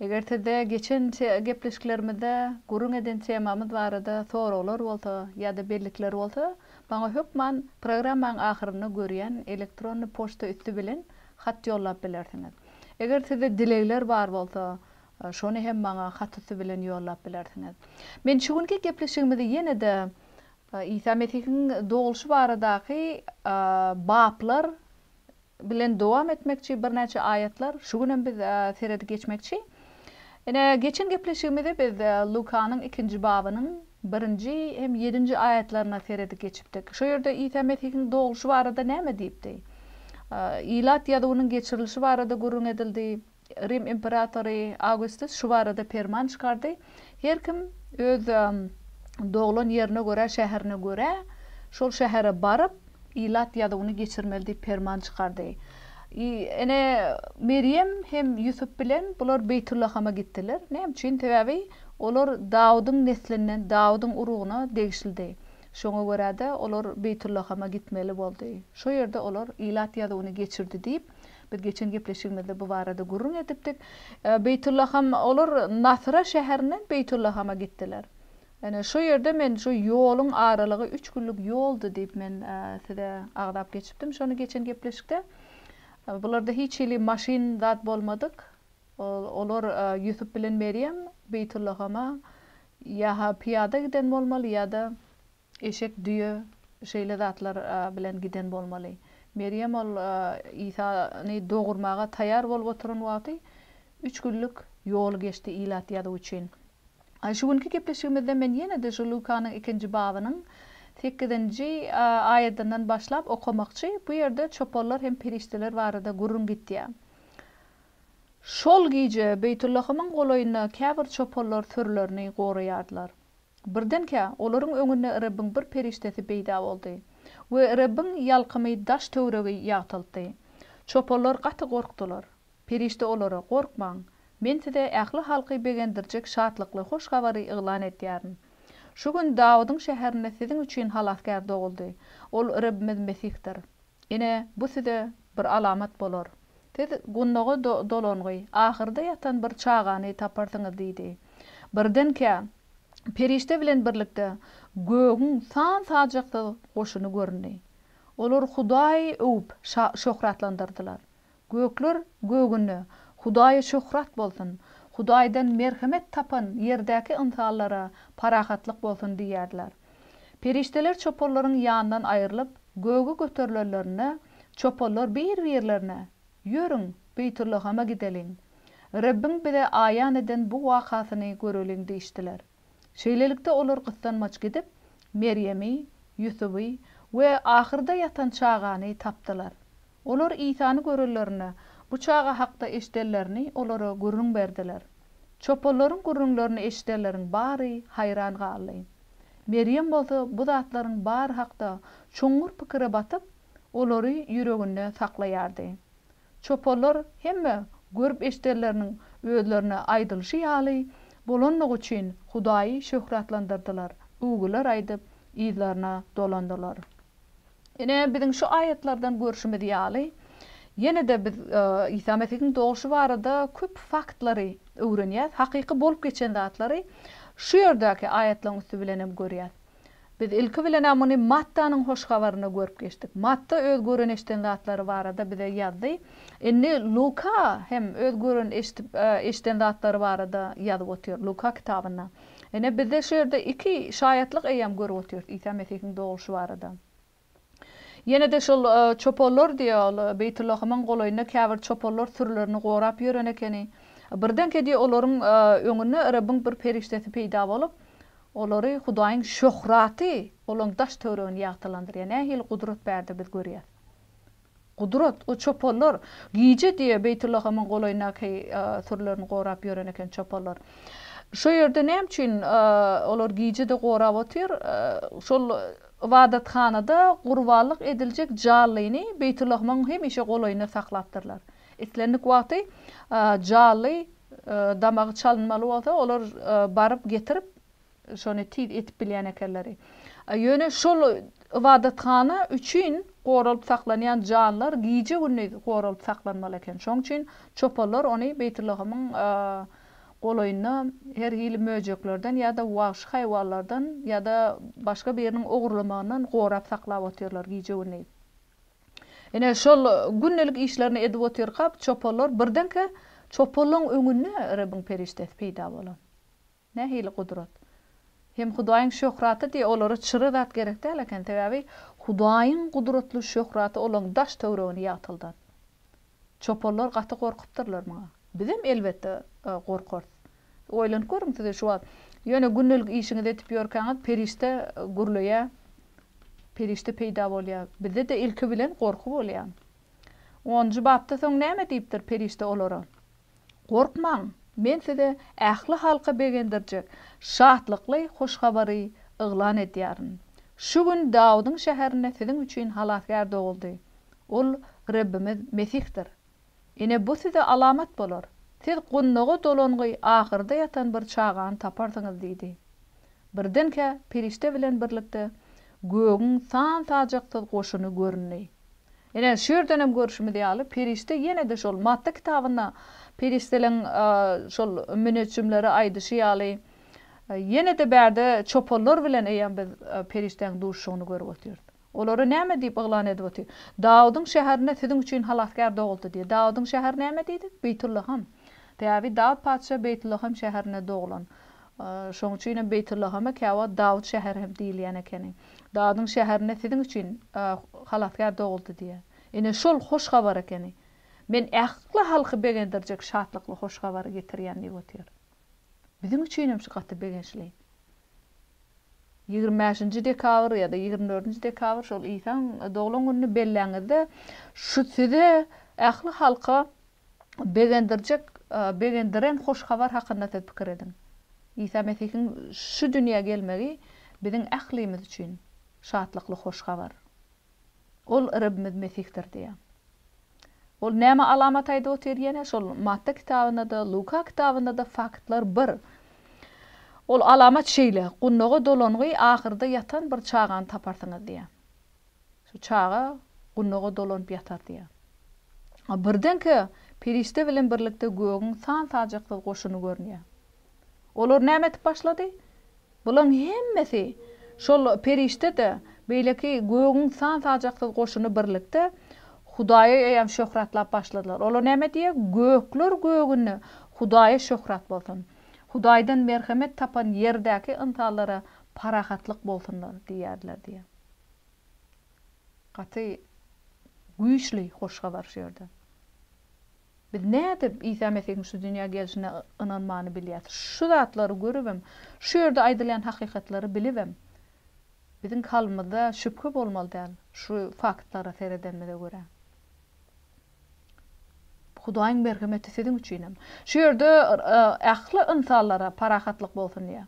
Eger sizde geçen gepleşiklerimizde gürrüň eden temamyz barada soraglar bolsa ýa-da bellikler bolsa, maňa hökman programmaň ahyrynda görýän elektronny poçta üsti bilen hat ýollap bilersiňiz. Eger sizde dilegler bar bolsa, şony hem maňa hat üsti bilen ýollap bilersiňiz. Men şu günki gepleşigimizi ýene-de Isa Mesihiň dogulyşy baradaky baplar Bilen dowam etmekçi birnäçe aýatlar şu günem biz seredip geçmekçi. Ine geçen gepleşigimizi biz Lukanyň ikinji babynyň birinji hem ýedinji aýatlaryna seredip geçipdik. Şo ýerde Isa Mesihiň dogulşy barada näme diýipdi? Ilat ýazuwynyň geçirilişi barada gürrüň edildi. Rim imperatory Awgustus şu barada perman çykardy, Her kim öz doglan ýerine görä, şäherine görä, şol şähere baryp, ilat ýazuwyny geçirmeli diýip perman çykardy. I ene Merýem hem Ýusup bilen bular Beýtullahama gitdiler. Näme üçin? Sebäbi olar Dawudyň neslinden, Dawudyň urugyna degişlidi. Şoňa görä-de, olar Beýtullahama gitmeli boldy. Şo ýerde olar ilat ýazuwyny geçirdi diýip, Biz geçen gepleşigimizde bu barada gürrüň edipdik. Beýtullaham, olar Nasra şäherinden Beýtullahama gitdiler. Ine, şu ýerde men şu ýoluň aralygy üç günlük ýoldy diýip men size agzap geçipdim şony geçen gepleşikde. Bularda hiç hili maşyn zat bolmadyk. Olar Ýusup bilen Merýem Beýtullahama ýa-ha pyýada giden bolmaly ýa-da Eşek, düýe şeýle zatlar bilen giden bolmaly. Merýem ol Isany dogurmaga taýýar bolup oturan wagty üç günlük ýol geçdi ilat ýazuw üçin. Şu günki gepleşigimizde men ýene-de şu Lukanyň ikinji babynyň sekizinji aýadyndan başlap okamakçy. Bu ýerde çopanlar hem perişdeler barada gürrüň gitýär. Şol gije Beýtullahymyň golaýynda käbir çopanlar sürülerini goraýardylar. Birdenkä, olaryň öňünde Rebbiň bir perişdesi peýda boldy we Rebbiň ýalkymy daş-töweregi ýagtyltdy. Çopanlar gaty gorkdular. Perişde olara, Gorkmaň! Men size ähli halky begendirjek şatlykly hoş habary yglan edýärin. Şu gün Dawudyň şäherinde siziň üçin Halasgär doguldy. Ol Rebbimiz Mesihdir. Ine, bu size bir alamat bolar. Siz gundaga dolangy, ahyrda ýatan bir çagany taparsyňyz diýdi. Birdenkä, perişde bilen birlikde gögüň san-sajaksyz goşuny göründi. Olar Hudaýy öwüp, şöhratlandyrdylar. Gökler gögüne Hudaýa şöhrat bolsun, Hudaýdan merhemet tapan ýerdäki ynsanlara parahatlyk bolsun diýerler. Perişdeler çopanlaryň ýanyndan aýrylyp, göge göterilenlerinde, çopanlar bir-birlerine, Ýörüň, Beýtullahama gideliň. Rebbiň bize aýan eden bu wakasyny göreliň diýişdiler. Şeýlelikde, olar gyssanmaç gidip, Merýemi, Ýusuby we ahyrda ýatan çagany tapdylar. Olar Isany görenlerinde, bu çaga hakda eşidenlerini olara gürrüň berdiler. Çopanlaryň gürrüňlerini eşidenleriň bary haýran galdy. Merýem bolsa bu zatlaryň bary hakda çuňňur pikire batyp, olary ýüreginde saklaýardy. Çopanlar hemme görüp-eşidenleriniň özlerine aýdylyşy ýaly bolandygy üçin Hudaýy şöhratlandyrdylar, öwgüler aýdyp, yzlaryna dolandylar. Ine, biziň şu aýatlardan görşümiz ýaly, ýene-de biz Isa Mesihiň doguşy barada köp faktlary öwrenýäs, hakyky bolup geçen zatlary şu ýerdäki aýatlaryň üsti bilen hem görýäs. Biz ilki bilen-ä muny Mattanyň Hoş Habarynda görüp geçdik. Matta öz gören-eşden zatlary barada bize ýazdy. Indi Luka hem öz gören-eşdip, eşden zatlary barada ýazyp otyr, Luka kitabynda. Ine, bizde şu ýerde iki şaýatlyk eýýäm görüp otyrys Isa Mesihiň dogulyşy barada. Ýene-de şol çopanlar diýýär, ol Beýtullahymyň golaýynda käbir çopanlar sürülerini gorap ýören ekeni. Birdenkä diýýär, olaryň öňünde Rebbiň bir perişdesi peýda bolup, olary Hudaýyň şöhraty olaryň daş-töweregini ýagtylandyrýar. Nähili gudrat bärde biz görýäs. Gudrat, o çopanlar, gije diýe Beýtullahamyň golaýyndaky sürülerini gorap ýören eken çopanlar. Şo ýerde näme üçin olar gije-de gorap otyr? Şol ybadathanada gurbanlyk ediljek jallyny Beýtullahamyň hemişe golaýynda saklapdyrlar. Islendik wagty jally damagy çalynmaly bolsa, olar baryp getirip, şony tiz etip bilýän ekenleri. Ýöne şol ybadathana üçin goralyp saklanýan janlar gije-gündiz goralyp saklanmaly eken. Şoň üçin çopanlar ony Beýtullahymyň golaýynda her hili möjeklerden ýa-da wagşy haýwanlardan ýa-da başga biriniň ogurlamagyndan gorap saklap otyrlar gije-gündiz. Ine, şol gündelik işlerini edip otyrkak çopanlar birdenkä çopanlaryň öňünde Rebbiň perişdesi peýda bolan. Nähili gudrat? Hem Hudaýyň şöhraty diýýär, olara çyra zat gerek däl eken, sebäbi Hudaýyň gudratly şöhraty olaryň daş-töwregini ýagtyldan. Çopanlar gaty gorkupdyrlar muňa. Bizem, elbetde, gorkarys. Oýlanyp görüň, size şu wagt ýöne gündelik işiňizi edip ýörkäňiz perişde gürleýär, perişde peýda bolýar. Bizde-de ilki bilen gorky bolýar. Onunjy bapda soň näme diýipdir perişde olara? Gorkmaň, men size ähli halka begendirjek şatlykly hoş habary yglan edýärin. Şu gün Dawudyň şäherinde siziň üçin Halasgär doguldy. Ol Rebbimiz Mesihdir. Ine, bu size alamat bolar. Siz gundaga dolangy ahyrda ýatan bir çagany taparsyňyz diýdi. Birdenkä perişde bilen birlikde gögüň san-sajaksyz goşuny göründi. Ine, şu ýerden hem görşümiz ýaly, perişde ýene-de şol Matta kitabynda perişdeleň şol müneçjimlere aýdyşy ýaly, ýene-de bärde çopanlar bilen eýýäm biz perişdäň duşuşygyny görüp otyrys. Olara näme diýip yglan edip otyr? Dawudyň şäherinde siziň üçin halasgär doguldy diýýär. Dawudyň şäheri näme diýdik? Beýtullaham. Sebäbi Dawut patyşa Beýtullaham şäherinde doglan. Şonuň üçin hem Beýtullahama käwagt Dawut şäheri hem diýilýän ekeni. Dawudyň şäherinde siziň üçin Halasgär doguldy diýýär. Ine, şol hoş habar ekeni. Men ähli halky begendirjek şatlykly hoş habary getirýän diýip otyr. Biziň üçin hem şu gaty begençli. Ýigrimi bäşinji dekabr ýa-da ýigrimi dördünji dekabr şol Isaň doglan gününi belläňizde, şu size, ähli halka begendirjek, begendiren hoş habar hakynda siz pikir ediň. Isa Mesihiň şu dünýä gelmegi biziň ählimiz üçin şatlykly hoş habar. Ol Rebimiz Mesihdir diýýär. Ol näme alamat aýdyp otyr ýene? Şol Matta kitabynda-da, Luka kitabynda-da faktlar bir. Ol alamat şeýle, Gundaga dolangy ahyrda ýatan bir çagany taparsyňyz diýýär. Şu çaga gunaga dolanyp ýatar diýýär. A birdenkä perişde bilen birlikde gögüň san-sajaksyz goşuny görünýär. Olar näme edip başlady? Bularyň hemmesi, şol perişde-de, beýleki gögüň san-sajaksyz goşuny birlikde Hudaýa eýýäm şöhratlap başladylar. Olar näme diýýär? Gökler gögünde Hudaýa şöhrat bolsun! Hudaýdan merhemet tapan ýerdäki ynsanlara parahatlyk bolsun! diýýärdiler diýýär. Gaty güýçli hoş habar şu ýerde. Biz nädip Isa Mesihiň şu dünýä gelşine ynanmany bilýäs? Şu zatlary görübem, şu ýerde aýdylýan hakykatlary bilibem, biziň kalbymyzda şübhe bolmaly däl, şu faktlara seredenimize görä. Hudaýyň merhemeti siziň üçinem. Şu ýerde ähli ynsanlara parahatlyk bolsun diýýär.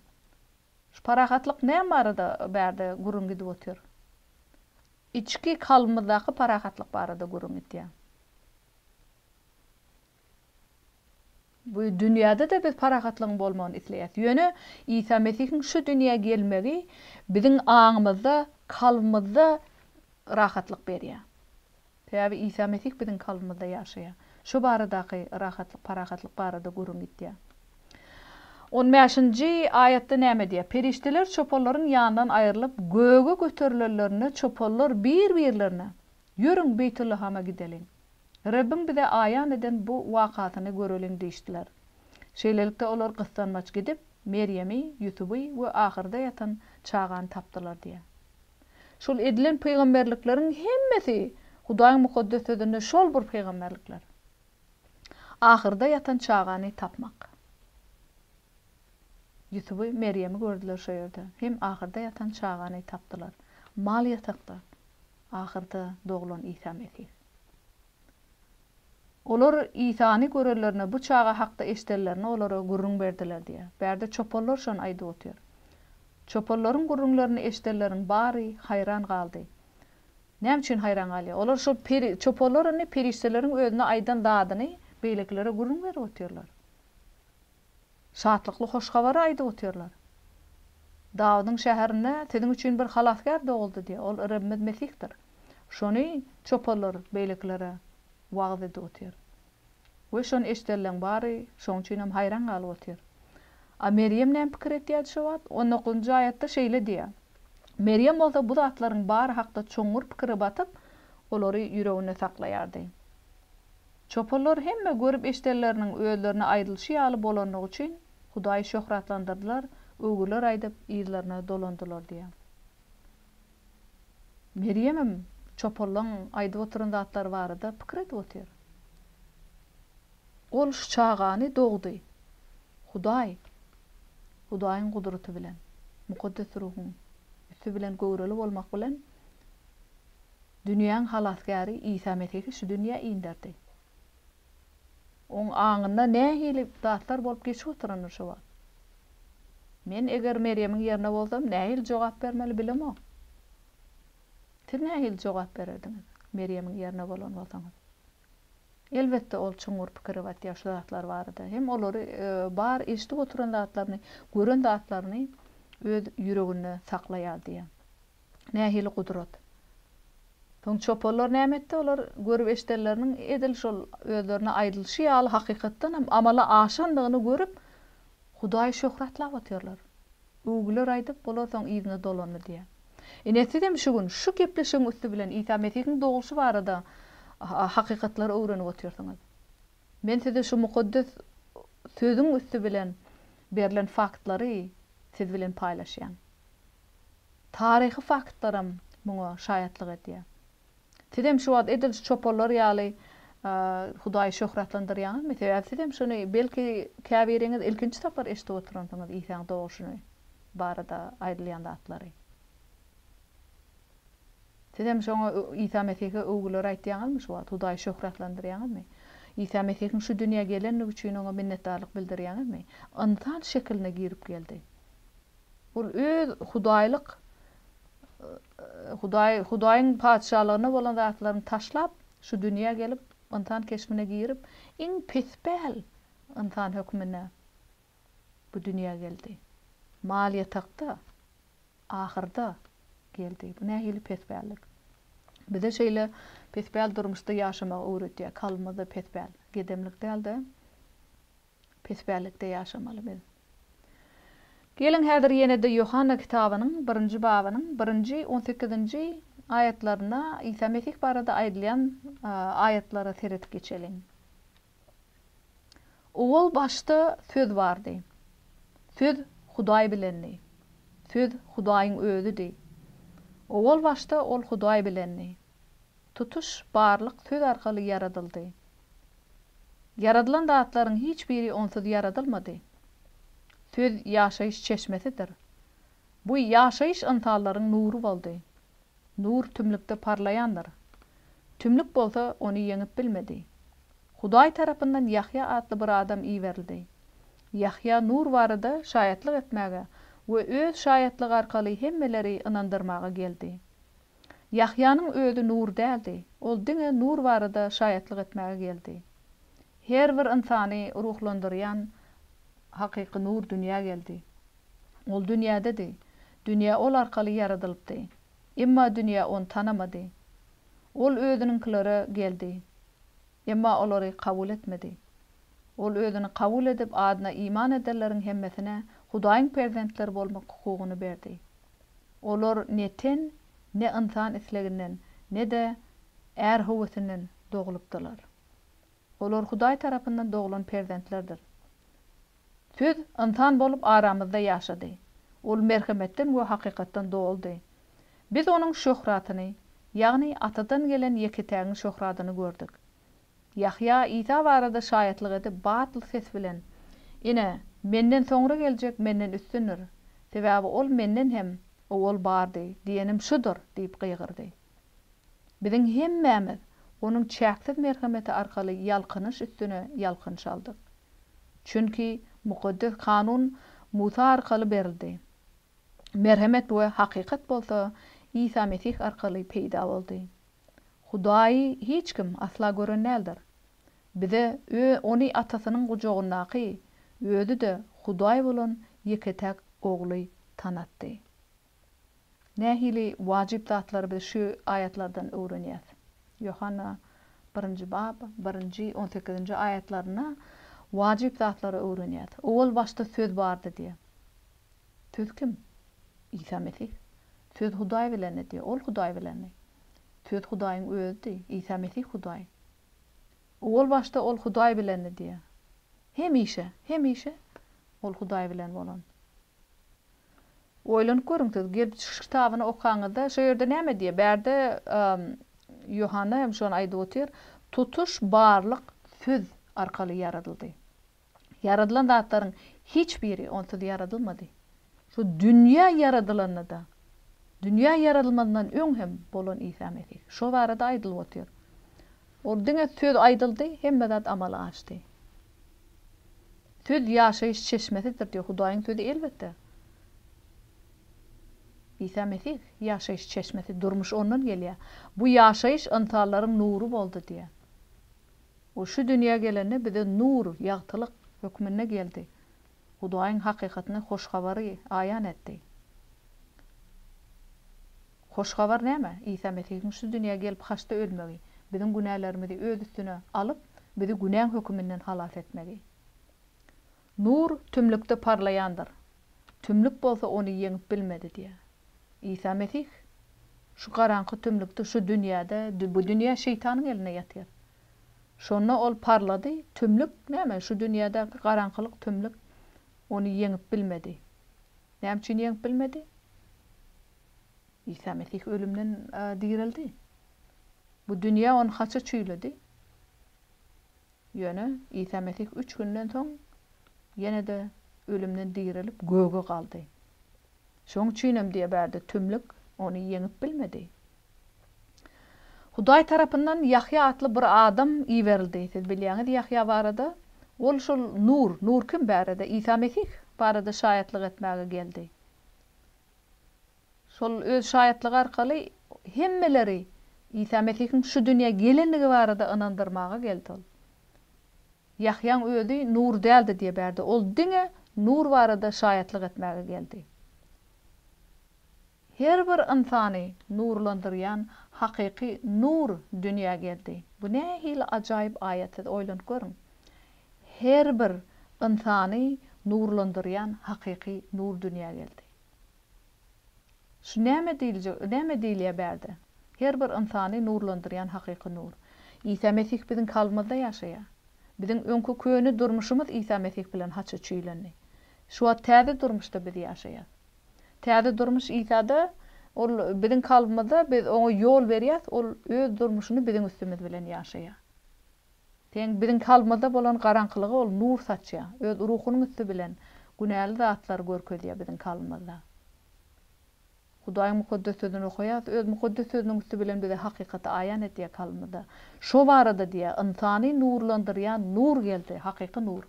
Şu parahatlyk näme barada bärde gürrüň gidip otyr? Içki kalbymyzdaky parahatlyk barada gürrüň gidýär. Bu dünýäde-de biz parahatlygyň bolmagyny isleýäs. Ýöne Isa Mesihiň şu dünýä gelmegi biziň aňymyzda, kalbymyzda rahatlyk berýär. Sebäbi Isa Mesih biziň kalbymyzda ýaşaýar. Şo baradaky rahatlyk, parahatlyk barada gürrüň gidýär. On bäşinji aýatda näme diýýär? Perişdeler çopanlaryň ýanyndan aýrylyp, göge göterilenlerinde çopanlar bir-birlerine, Ýörüň, Beýtullahama gideliň. Rebbiň bize aýan eden bu wakasyny göreliň diýişdiler. Şeýlelikde, olar gyssanmaç gidip, Merýemi, Ýusuby we ahyrda ýatan çagany tapdylar diýýär. Şol edilen pygamberlikleriň hemmesi Hudaýyň Mukaddes Sözünde şol bir pygamberlikler. Ahyrda ýatan çagany tapmak. Ýusuby, Merýemi gördüler şo ýerde. Hem ahyrda ýatan çagany tapdylar. Mal ýatakda ahyrda doglan Isa Mesih. Olar Isany görenlerine bu çaga hakda eşidenlerini olara gürrüň berdiler diýýär. Bärde çopanlar şony aýdyp otyr. Çopanlaryň gürrüňlerini eşidenleriň bary haýran galdy. Näme üçin haýran galýar? Olar şol peri, çopanlar indi perişdeleriň özüne aýdan zadyny beýlekilere gürrüň berip otyrlar. Şatlykly hoş habary aýdyp otyrlar. Dawudyň şäherinde siziň üçin bir Halasgär doguldy diýip, ol Rebbimiz Mesihdir. Şony çoparlar beýlekilere wagyz edip otyr. We şony eşidenleriň bary şoň üçin hem haýran galyp otyr. A Merýem näme pikir etýärdi şo wagt? On dokuzynjy aýatda şeýle diýýär. Merýem bolsa bu zatlaryň bary hakda çuňňur pikire batyp, olary ýüreginde saklaýardy. Çopanlar hemme görüp-eşdenleriniň özlerine aýdylyşy ýaly bolandygy üçin Hudaýy şöhratlandyrdylar, öwgüler aýdyp, yzlaryna dolandylar diýýär. Merýemem çopanlaryň aýdyp oturan zatlary barada pikir edip otyr. Ol şu çagany dogdy. Hudaý, Hudaýyň gudraty bilen, Mukaddes Ruhuň üsti bilen göwreli bolmak bilen, Dünýäň Halasgäri Isa Mesihi şu dünýä inderdi. Oň aňynda nähili zatlar bolup geçip oturandyr şu wagt? Men eger Merýemiň ýerinde bolsam, nähili jogap bermeli bilemok. Siz nähili jogap bererdiňiz, Merýemiň ýerinde bolan bolsaňyz? Elbetde, ol çuňňur pikire batýar şu zatlar barada. Hem olary bar eşidip oturan zatlaryny, gören zatlaryny öz ýüreginde saklaýar diýýär. nähili gudrat? Soň çopanlar näme etdi? Olar görüp-eşidenleriniň edil şol özlerine aýdylyşy ýaly hakykatdan hem amala aşandygyny görüp, Hudaýy şöhratlap otyrlar. Öwgüler aýdyp, olar soň yzyna dolandy diýýär. Ine, siz hem şu gün şu gepleşigiň üsti bilen Isa Mesihiň dogulyşy barada hakykatlary öwrenip otyrsyňyz. Men size şu mukaddes Sözüň üsti bilen berlen faktlary siz bilen paýlaşýan. Taryhy faktlaram muňa şaýatlyk edýär. Sizem şu wagt edil şu çopanlar ýaly Hudaýy şöhratlandyrýaňyzmy? Sebäbi sizem şuny belki käbiriňiz ilkinji sapar eşidip oturansyňyz Isaň doguşyny barada aýdylýan zatlary. Sizem şoňa Isa Mesihe öwgüler aýtýaňyzmy şu wagt? Hudaýy şöhratlandyrýaňyzmy? Isa Mesihiň şu dünýä gelendigi üçin oňa minnetdarlyk bildirýäňizmi? Ynsan şekiline girip geldi. Ol öz hudaýlyk, Hudaý, Hudaýyň Patyşalygyna bolan zatlaryny taşlap, şu dünýä gelip, ynsan keşbine girip, iň pespäl ynsan hökmünde bu dünýä geldi. Mal ýatakda, ahyrda geldi. Bu nähili pespällik? Bize şeýle pespäl durmuşda ýaşamagy öwretýär. Kalbymyzda pespäl, gedemlik däl-de. Pespällikde ýaşamaly biz. Geliň, häzir ýene-de Ýohanna kitabynyň birinji babynyň birinji, on sekizinji aýatlaryna, Isa Mesih barada aýdylýan aýatlara seredip geçeliň. Owal başda Söz bardy. Söz Hudaý bilendi. Söz Hudaýyň Özüdi. Owal başda Ol Hudaý bilendi. tutuş barlyk söz arkaly ýaradyldy. Ýaradylan zatlaryň hiç biri onsuz ýaradylmady. Söz ýaşaýyş çeşmesidir. Bu ýaşaýyş ynsanlaryň nury boldy. Nur tümlükde parlaýandyr. Tümlük bolsa ony ýeňip bilmedi. Hudaý tarapyndan Ýahýa atly bir adam iberildi. Ýahýa nur barada şaýatlyk etmäge we öz şaýatlygy arkaly hemmeleri ynandyrmaga geldi. Ýahýanyň özi nur däldi, ol diňe nur barada şaýatlyk etmäge geldi. Her bir ynsany ruhlandyrýan hakyky nur dünýä geldi. Ol dünýädedi, dünýä ol arkaly ýaradylypdy, emma dünýä ony tanamady. Ol özüniňkilere geldi, emma olary kabul etmedi. Ol özüni kabul edip, adyna iman edenleriň hemmesine Hudaýyň perzentleri bolmak hukugyny berdi. Olar ne ten, ne ynsan isleginden, ne-de är höwesinden doglupdylar. Olar Hudaý tarapyndan doglan perzentlerdir. Söz ynsan bolup aramyzda ýaşady. Ol merhemetden we hakykatdan doldy. Biz onuň şöhratyny, ýagny Atadan gelen ýeketägiň şöhratyny gördük. Ýahýa Isa barada şaýatlyk edip, batly ses bilen, Ine, menden soňra geljek menden üstündir, sebäbi ol menden hem owal bardy, diýenim şudur diýip gygyrdy. Biziň hemmämiz onuň çäksiz merhemeti arkaly ýalkanyş üstüne ýalkanyş aldyk. Çünki Mukaddes Kanun Musa arkaly berildi. Merhemet we hakykat bolsa Isa Mesih arkaly peýda boldy. Hudaýy hiç kim asla gören däldir. Bize Ony Atasynyň gujagyndaky, Özi-de Hudaý bolan ýeke-täk Ogly tanatdy. Nähili wajyp zatlary biz şu aýatlardan öwrenýäs? Ýohanna birinji bab, birinji, on sekizinji aýatlarynda wajyp zatlary öwrenýäs. Owal başda Söz bardy diýýär. Söz kim? Isa Mesih. Söz Hudaý bilenidi, Ol Hudaý bilendi. Söz Hudaýyň Özüdi, Isa Mesih Hudaý. Owalbaşda Ol Hudaý bilendi diýýär. Hemişe, hemişe Ol Hudaý bilen bolan. Oýlanyp görüň siz, Gelip çykyş kitabyny okaňyzda, şo ýerde näme diýýär? Bärde Ýohanna hem şony aýdyp otyr, Tutuş barlyk Söz arkaly ýaradyldy. Ýaradylan zatlaryň hiç biri onsuz ýaradylmady. Şu dünýä ýaradylanda-da, dünýä ýaradylmazyndan öň hem bolan Isa Mesih. Şo barada aýdylyp otyr. Ol diňe söz aýdyldy, hemme zat amala aşdy. Söz ýaşaýyş çeşmesidir diýip, Hudaýyň sözi elbetde. Isa Mesih ýaşaýyş çeşmesi, durmuş ondan gelýär. Bu ýaşaýyş ynsanlaryň nury boldy diýýär. Ol şu dünýä gelende bize nur, ýagtylyk, hökmünde geldi. Hudaýyň hakykatyny, hoş habary aýan etdi. Hoş habar näme? Isa Mesihiň şu dünýä gelip haçda ölmegi, biziň günälerimizi öz üstüne alyp, bizi günäň höküminden halas etmegi. Nur tümlükde parlaýandyr. Tümlük bolsa ony ýeňip bilmedi diýýär. Isa Mesih, Şu garaňky tümlükde, şu dünýäde, bu dünýä şeýtanyň elinde ýatyr. Şonda ol parlady, tümlük, näme, şu dünýädäki garaňkylyk, tümlük ony ýeňip bilmedi. Näme üçin ýeňip bilmedi? Isa Mesih ölümden direldi. Bu dünýä ony haça çüýledi. Ýöne Isa Mesih üç günden soň ýene-de ölümden direlip göge galdy. Şonuň üçinem diýe bärde tümlük ony ýeňip bilmedi. Hudaý tarapyndan Ýahýa atly bir adam iberildi. Siz bilýäňiz Ýahýa barada? Ol şol Nur, Nur kim bärede? Isa Mesih barada şaýatlyk etmäge geldi. Şol öz şaýatlygy arkaly hemmeleri Isa Mesihiň şu dünýä gelendigi barada ynandyrmaga geldi ol. Ýahýaň özi nur däldi diýe bärde, ol diňe nur barada şaýatlyk etmäge geldi. Her bir ynsany nurlandyrýan hakyky nur dünýä geldi. Bu nähili ajaýyp aýat siz oýlanyp görüň. Her bir ynsany nurlandyrýan hakyky nur dünýä geldi. Şu näme diýiljek, näme diýilýär bärde? Her bir ynsany nurlandyrýan hakyky nur. Isa Mesih biziň kalbymyzda ýaşaýar. Biziň öňki köne durmuşymyz Isa Mesih bilen haça çüýlendi. Şu wagt täze durmuşda biz ýaşaýas. Täze durmuş Isada, Ol biziň kalbymyzda, biz Oňa ýol berýäs, Ol Öz durmuşyny biziň üstümiz bilen ýaşaýar. Sen biziň kalbymyzda bolan garaňkylyga ol nur saçýaň. Öz Ruhunyň üsti bilen günäli zatlary görkezýär biziň kalbymyzda. Hudaýyň Mukaddes Sözüni okaýarys, Öz Mukaddes Sözüniň üsti bilen bize hakykaty aýan edýär kalbymyzda. Şo barada diýýär, Ynsany nurlandyrýan nur geldi, hakyky nur.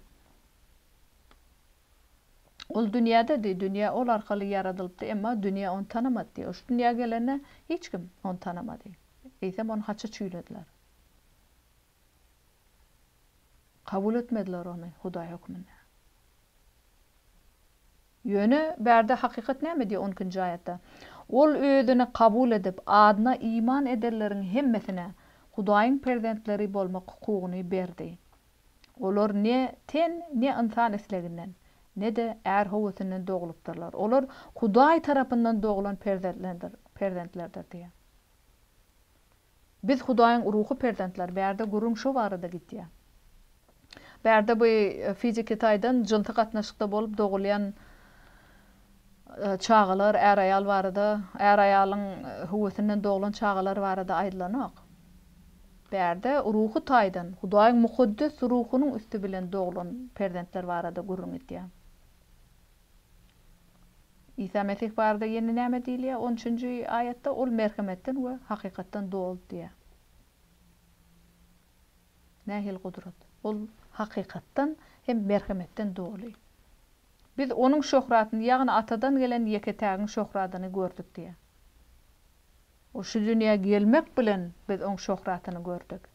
Ol dünýäde diý, dünýä ol arkaly ýaradylypdy, emma dünýä ony tanamady diý. Ol şu dünýä gelende hiç kim ony tanamady. Eýsem ony haça çüýlediler. Kabul etmediler ony Hudaý hökmünde. Ýöne bärde hakykat näme diýýär on ikinji aýatda? Ol özüni kabul edip, adyna iman edenleriň hemmesine Hudaýyň perzentleri bolmak hukugyny berdi. Olar ne ten, ne ynsan isleginden, ne-de är höwesinden doglupdyrlar. Olar Hudaý tarapyndan doglan perzentlerdir diýýär. Biz Hudaýyň ruhy perzentleri, bärde gürrüň şo barada gitýär. Bärde bu fiziki taýdan jynsy gatnaşykda bolup dogulýan çagalar, är-aýal barada, är-aýalyň höwesinden doglan çagalar barada aýdylanok. Bärde ruhy taýdan Hudaýyň mukaddes ruhunyň üsti bilen doglan perzentler barada gürrüň gitýär. Isa Mesih barada ýene näme diýilýär? On üçünji aýatda Ol merhemetden we hakykatdan doly diýýär. Nähili gudrat? Ol hakykatdan hem merhemetden doly. Biz Onuň şöhratyny, ýagny Atadan gelen ýeke-tägiň şöhradyny gördük diýýär. Ol şu dünýä gelmek bilen biz Oň şöhratyny gördük.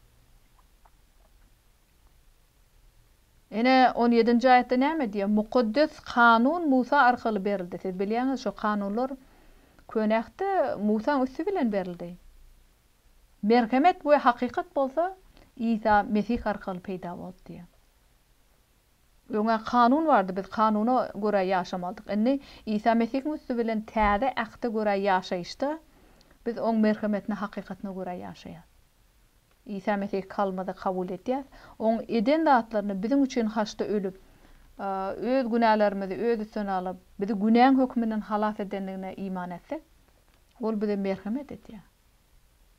Ine, on ýedinji aýatda näme diýýär? Mukaddes kanun Musa arkaly berildi. Siz bilýäňiz, şo kanunlar Köne Ähtde Musaň üsti bilen berildi. Merhemet we hakykat bolsa Isa Mesih arkaly peýda boldy diýýär. Öň-ä kanun bardy, biz kanuna görä ýaşamalydyk. Indi Isa Mesihiň üsti bilen Täze Ähte görä ýaşaýyşda biz Oň merhemetine, hakykatyna görä ýaşaýarys. Isa Mesih kalmady kabul etýäs. Oň eden zatlaryny biziň üçin haçda ölüp, öz günälerimizi öz üstüne alyp, bizi günäň hökmünden halas edendigine iman etsek, ol bize merhemet etýär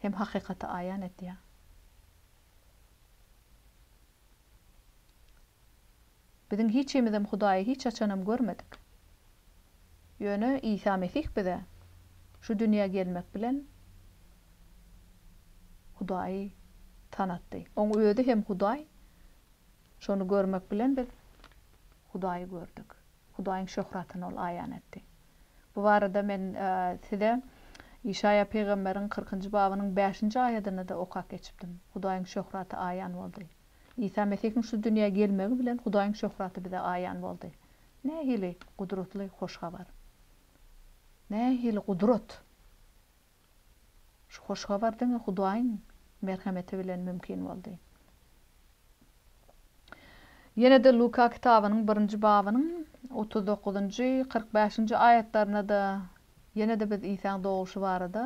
hem hakykaty aýan etýär. Biziň hiçimizem Hudaýy hiç haçanam görmedik. Ýöne Isa Mesih bize şu dünýä gelmek bilen Hudaýy tanatdy. Oň özi hem Hudaý. Şony görmek bilen biz Hudaýy gördük. Hudaýyň şöhratyny ol aýan etdi. Bu barada men size Işaýa pygamberiň kyrkynjy babynyň bäşinji aýadyny-da okap geçipdim. Hudaýyň şöhraty aýan boldy. Isa Mesihiň şu dünýä gelmegi bilen Hudaýyň şöhraty bize aýan boldy. Nähili gudratly hoş habar! Nähili gudrat! Şu hoş habar diňe Hudaýyň merhemeti bilen mümkin boldy. Ýene-de Luka kitabynyň birinji babynyň otuz dokuzynjy, kyrk bäşinji aýatlarynda-da ýene-de biz Isaň dogulyşy barada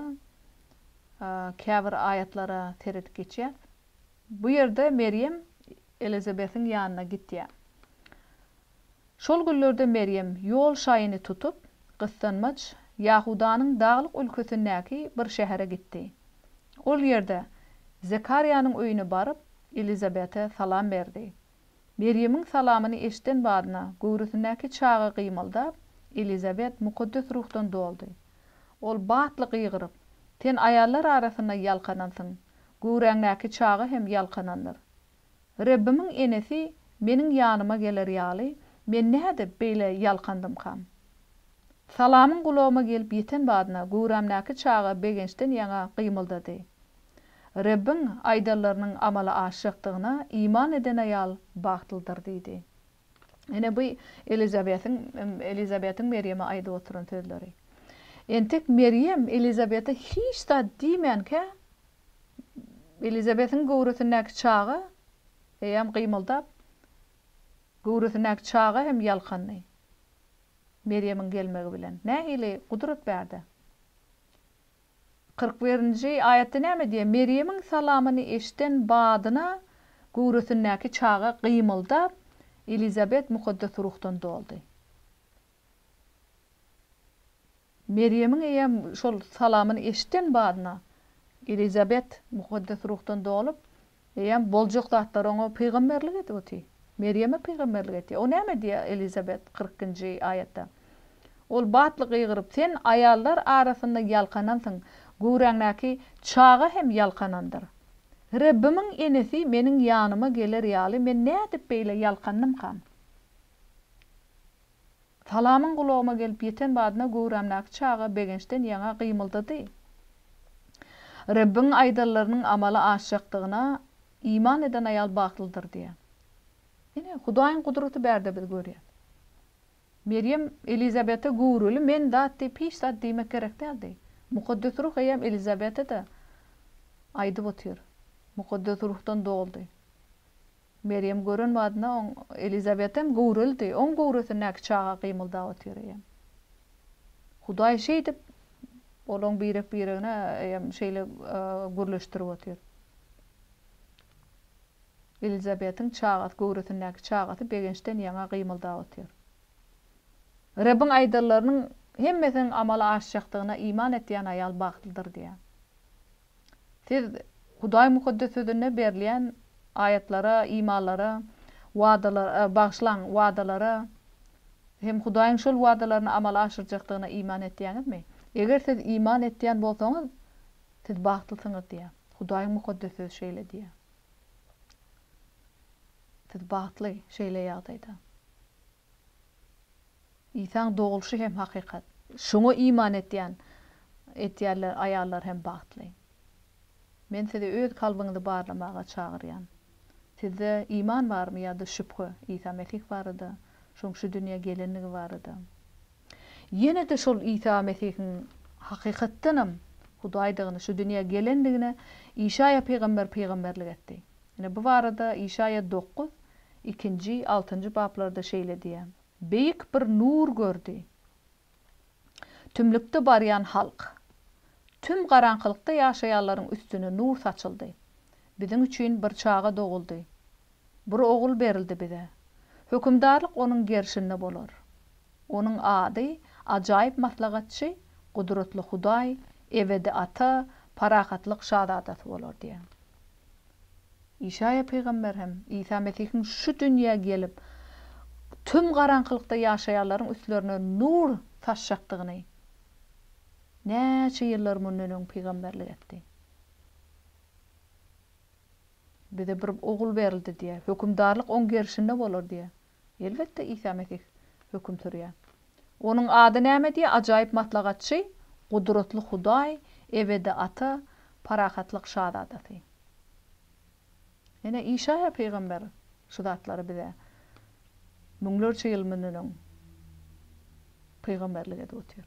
käbir aýatlara seredip geçýäs. Bu ýerde Merýem Elizabetiň ýanyna gitýär. Şol günlerde Merýem ýol şaýyny tutup, gyssanmaç Ýahudanyň daglyk ülkesindäki bir şähere gitdi. Ol ýerde Zekarýanyň öýüne baryp, Elizabete salam berdi. Merýemiň salamyny eşden badyna, göwresindäki çaga gymyldap, Elizabet Mukaddes Ruhdan doldy. Ol batly gygyryp, Sen aýallar arasynda ýalkanansyň, göwräňdäki çaga hem ýalkanandyr. Rebbimiň enesi meniň ýanyma geler ýaly, men nädip beýle ýalkandymkam? Salamyň gulagyma gelip ýeten badyna, göwrämdäki çaga begençden ýaňa gymyldady. Rebbiň aýdanlarynyň amala aşjakdygyna iman eden aýal bagtlydyr diýdi. Ine bu Elizabetiň Elizabetiň Merýeme aýdyp oturan sözleri. Entek Merýem Elizabete hiç zat diýmänkä, Elizabetiň göwresindäki çaga eýýäm gymyldap, göwresindäki çaga hem ýalkandy. Merýemiň gelmegi bilen nähili gudrat bärde! Kyrk birinji aýatda näme diýýär? Merýemiň salamyny eşden badyna göwresindäki çaga gymyldap, Elizabet Mukaddes Ruhdan doldy. Merýemiň eýýäm şol salamyny eşden badyna, Elizabet Mukaddes Ruhdan dolup, Eýýäm boljak zatlar oňa pygamberlik edip oty. Merýeme pygamberlik etýär. O näme diýýär Elizabet kyrk nji aýatda? Ol batly gygyryp, Sen aýallar arasynda ýalkanansyň, göwräňdäki çaga hem ýalkanandyr. Rebbimiň enesi meniň ýanyma geler ýaly men nädip beýle ýalkandymkam? Salamyň gulagyma gelip ýeten badyna göwrämdäki çaga begençden ýaňa gymyldady. Rebbiň aýdanlarynyň amala aşjakdygyna iman eden aýal bagtlydyr diýýär. Ine, Hudaýyň gudraty bärde biz görýäs. Merýem Elizabete göwreli men zat diýip hiç zat diýmek gerek däldi. Mukaddes Ruh eýýäm Elizabete-de aýdyp otyr. Mukaddes Ruhdan doldy. Merýem gören badyna oň Elizabetem göwreldi, oň göwresindäki çaga gymyldap otyr eýem. Hudaý şeýdip, olaň birek-biregine eýem şeýle gürleşdirip otyr. Elizabetiň çagasy, göwresindäki çagasy begençden ýaňa gymyldap otyr. Rebbiň aýdanlarynyň hemmesiniň amala aşjakdygyna iman etýän aýal bagtlydyr diýýär. Siz Hudaýyň Mukaddes Sözünde berilýän aýatlara, imalara, wadalara, bagyşlaň, wadalara hem Hudaýyň şol wadalaryny amala aşyrjakdygyna iman etýäňizmi? Eger siz iman etýän bolsaňyz, siz bagtlysyňyz diýýär. Hudaýyň Mukaddes Sözi şeýle diýýär. Siz bagtly şeýle ýagdaýda. Isaň dogulyşy hem hakykat. Şoňa iman etýän, etýärler, aýallar hem bagtly. Men sizi öz kalbyňyzy barlamaga çagyrýan. Sizde iman barmy ýa-da şübhe Isa Mesih barada, şoň şu dünýä gelendigi barada? Ýene-de şol Isa Mesihiň hakykatdanam Hudaýdygyny, şu dünýä gelendigine Işaýa pygamber pygamberlik etdi. Ine, bu barada Işaýa dokuz, ikinji, altynjy baplarda şeýle diýýär, Beýik bir nur gördi. Tümlükde barýan halk. Tüm garaňkylykda ýaşaýanlaryň üstüne nur saçyldy. Biziň üçin bir çaga doguldy. Bir ogul berildi bize. Hökümdarlyk onuň gerşinde bolar. Onuň ady Ajaýyp Maslahatçy, Gudratly Hudaý, Ebedi Ata, Parahatlyk Şazadasy bolar diýýär. Işaýa pygamber hem, Isa Mesihiň şu dünýä gelip, tüm garaňkylykda ýaşaýanlaryň üstlerine nur saçjakdygyny näçe ýyllar mundan öň pygamberlik etdi. Bize bir Ogul berildi diýýär. Hökümdarlyk oň gerşinde bolar diýýär. Elbetde, Isa Mesih höküm sürýär. Onuň ady näme diýýär? Ajaýyp Maslahatçy, Gudratly Hudaý, Ebedi Ata, Parahatlyk Şazadasy. Ine, Işaýa pygamber şu zatlary bize müňlerçe ýyl mundan öň pygamberlik edip otyr.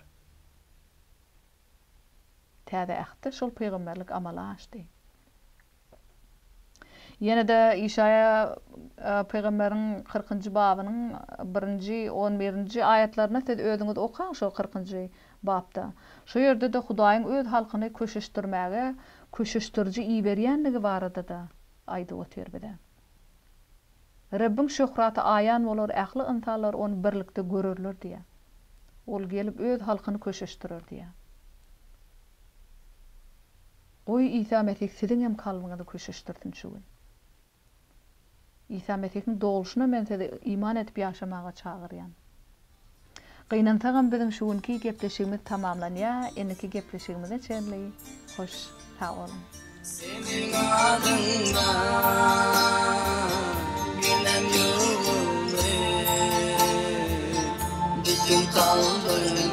Täze Ähtde şol pygamberlik amala aşdy. Ýene-de Işaýa pygamberiň kyrkynjy babynyň birinji, on birinji aýatlaryna siz özüňiz okaň şo kyrkynjy bapda. Şo ýerde-de Hudaýyň öz halkyny köşeşdirmäge köşeşdiriji iberýändigi barada-da aýdyp otyr bize. Rebbiň şöhraty aýan bolar, ähli ynsanlar ony birlikde görerler diýýär. Ol gelip öz halkyny köşeşdirer diýýär. Goý Isa Mesih siziň hem kalbyňyzy küşeşdirsin şu gün. Isa Mesihiň dolşuna men sizi iman edip ýaşamaga çagyrýan. Gynansagam biziň şu günki gepleşigimiz tamamlanýa indiki gepleşigimize çenli hoş sag boluň. Seniň adyňda bilen ýolumy bütin kalbymdan.